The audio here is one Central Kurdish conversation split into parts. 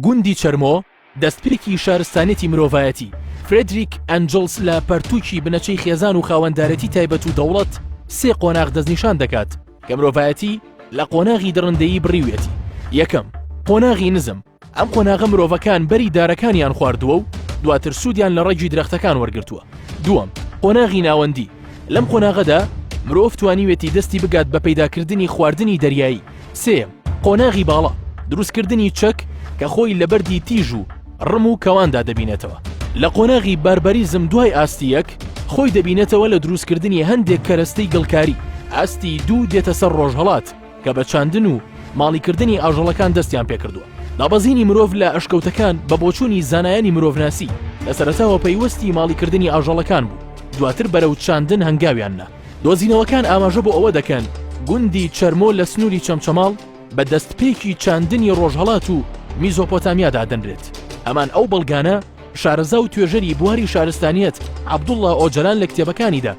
گوندی چەرمۆ، دەستپێکی شارستانێتی مرۆڤایەتی، فرێدریک ئەنجڵس لە پەرتووکی بنەچەی خێزان و خاوەندارێتی تایبەت و دەوڵەت سێ قۆناغ دەستنیشان دەکات کە مرۆڤایەتی لە قۆناغی دڕندەیی بڕیویەتی، یەکەم، قۆناغی نزم، ئەم قۆناغە مرۆڤەکان بەری دارەکانیان خواردووە و دواتر سوودیان لە ڕەگی درەختەکان وەرگرتووە، دووەم، قۆناغی ناوەندی، لەم قۆناغەدا مرۆڤ توانیویەتی دەستی بگات بە پەیداکردنی خواردنی دەریایی، سێیەم، قۆناغی باڵا، دروستکردنی چەک کە خۆی لە بەردی تیژ و ڕم و کەواندا دەبینێتەوە. لە قۆناغی بارباریزم دوای ئاستی یەک، خۆی دەبینێتەوە لە دروستکردنی هەندێک کەرەستەی گڵکاری، ئاستی دوو دێتە سەر ڕۆژهەڵات کە بە چاندن و ماڵیکردنی ئاژەڵەکان دەستیان پێکردووە. دابەزینی مرۆڤ لە ئەشکەوتەکان بە بۆچوونی زانایانی مرۆڤناسی، لە سەرەتاوە پەیوەستی ماڵیکردنی ئاژەڵەکان بوو، دواتر بەرەو چاندن هەنگاویان نا. دۆزینەوەکان ئاماژە بۆ ئەوە دەکەن گوندی چەرمۆ لە سنووری چەمچەماڵ بە دەستپێکی چاندنی ڕۆژهەڵات و میزۆپۆتامیا دادەنرێت هەمان ئەو بەڵگانە شارەزا و توێژەری بواری شارستانیت عبدوڵڵا ئۆجلان لە کتێبەکانیدا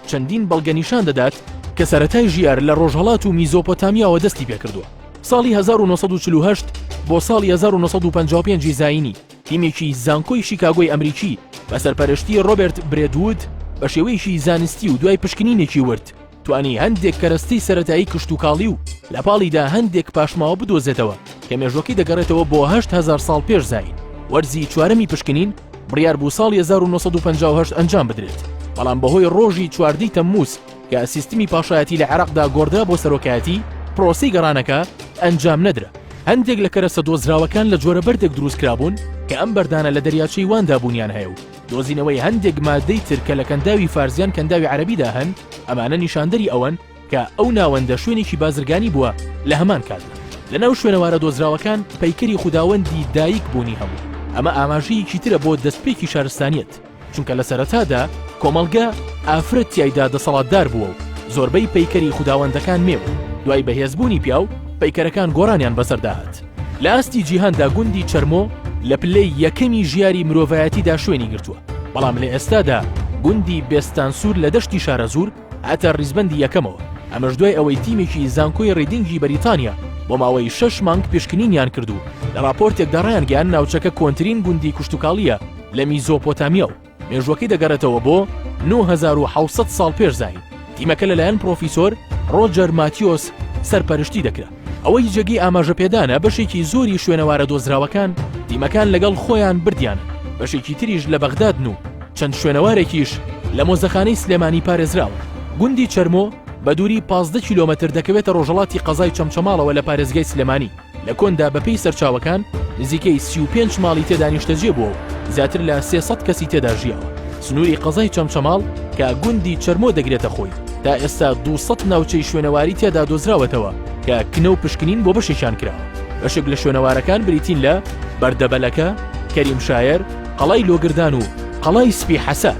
چەندین بەڵگە نیشان دەدات کە سەتای ژیار لە ڕۆژهڵات و میزۆپۆتامیاوە دەستی پێکردووە ساڵی 1940 بۆ ساڵی 1955 زینی تیمێکی زانکۆی شیکاگۆی ئەمریکی بە سەرپەرشتی ڕۆبێرت برێدوود بە شێوەیەکی زانستی و دوای پشکنینێکی ورد توانی هەندێک کەرەستەی سەرەتایی کشتوکاڵی و لە پاڵیدا هەندێک پاشماوە بدۆزێتەوە کە مێژوەکەی دەگەڕێتەوە بۆ هەشت هەزار ساڵ پێش زایین وەرزی چوارەمی پشکنین بڕیار بوو ساڵی 1950 ئەنجام بدرێت بەڵام بەهۆی ڕۆژی چواردەی تەمموز کە سیستمی پاشایەتی لە عێراقدا گۆڕدرا بۆ سەرۆکایەتی، پرۆسەی گەڕانەکە ئەنجام نەدرا. هەندێک لە کەرەسە دۆزراوەکان لە جۆرە بەردێک دروست کرابوون کە ئەم بەردانە لە دەریاچەی واندا بوونیان هەیە و دۆزینەوەی هەندێک ماددەی تر کە لە کەنداوی فارس یان کەنداوی عەرەبیدا هەن ئەمانە نیشاندەری ئەوەن کە ئەو ناوەندە شوێنێکی بازرگانی بووە لە هەمان کاتدا. لەناو شوێنەوارە دۆزراوەکان پەیکەری خوداوەندی دایک بوونی هەبوو، ئەمە ئاماژەیەکی ترە بۆ دەستپێکی شارستانیەت. چونکە لە سەرەتادا کۆمەڵگە ئافرەت تیایدا دەسەڵاتدار بووە و زۆربەی پەیکەری خوداوەندەکان مێ بوون دوای بەهێز بوونی پیاو پەیکەرەکان گۆڕانیان بەسەرداهات لە ئاستی جیهاندا گوندی چەرمۆ لە پلەی یەکەمی ژیاری مرۆڤایەتیدا شوێنی گرتووە بەڵام لە ئێستادا گوندی بێستان سوور لە دەشتی شارەزوور هەتا ریزبەندی یەکەمەوە، ئەمەش دوای ئەوەی تیمێکی زانکۆی ریدینگی بەریتانیا بۆ ماوەی شەش مانگ پشکنینیان کرد و لە راپۆرتێکدا رایانگەیاند ناوچەکە کۆنترین گوندی کوشتوکاڵییە لە میزۆپۆتامیا و مێژووەکەی دەگەڕێتەوە بۆ نۆ هەزار و حەوت سەد ساڵ پێش زایین. تیمەکە لەلایەن پڕۆفیسۆر رۆجەر ماتیۆس سەرپەرشتی دەکرا. ئەوەی جێگەی ئاماژەپێدانە بەشێکی زۆری شوێنەوارە دۆزراوەکان دیمەکان لەگەڵ خۆیان بردیان بەشێکی تریش لە بەغدادن و چەند شوێنەوارێکیش لە مۆزەخانەی سلێمانی پارێزراون گوندی چەرمۆ بە دووری 15 کیلۆمەتر دەکەوێتە ڕۆژەڵاتی قەزای چەمچەماڵەوە لە پارێزگای سلێمانی لە کۆندا بەپێی سەرچاوەکان نزیکەی 35 ماڵی تێدا نیشتەجێ بووە و زیاتر لە 300 کەسی تێدا ژیاوە سنووری قەزای چەمچەماڵ کە گوندی چەرمۆ دەگرێتە خۆی، تا ئێستا دوو سەد ناوچەی شوێنەواری تێدا دۆزراوەتەوە کە کنە و پشکنین بۆ بەشێکیان کراوە. بەشێک لە شوێنەوارەکان بریتین لە، بەردەبەلەکە، کەریم شایەر، قەڵای لۆگردان و قەڵای سپی حەسار.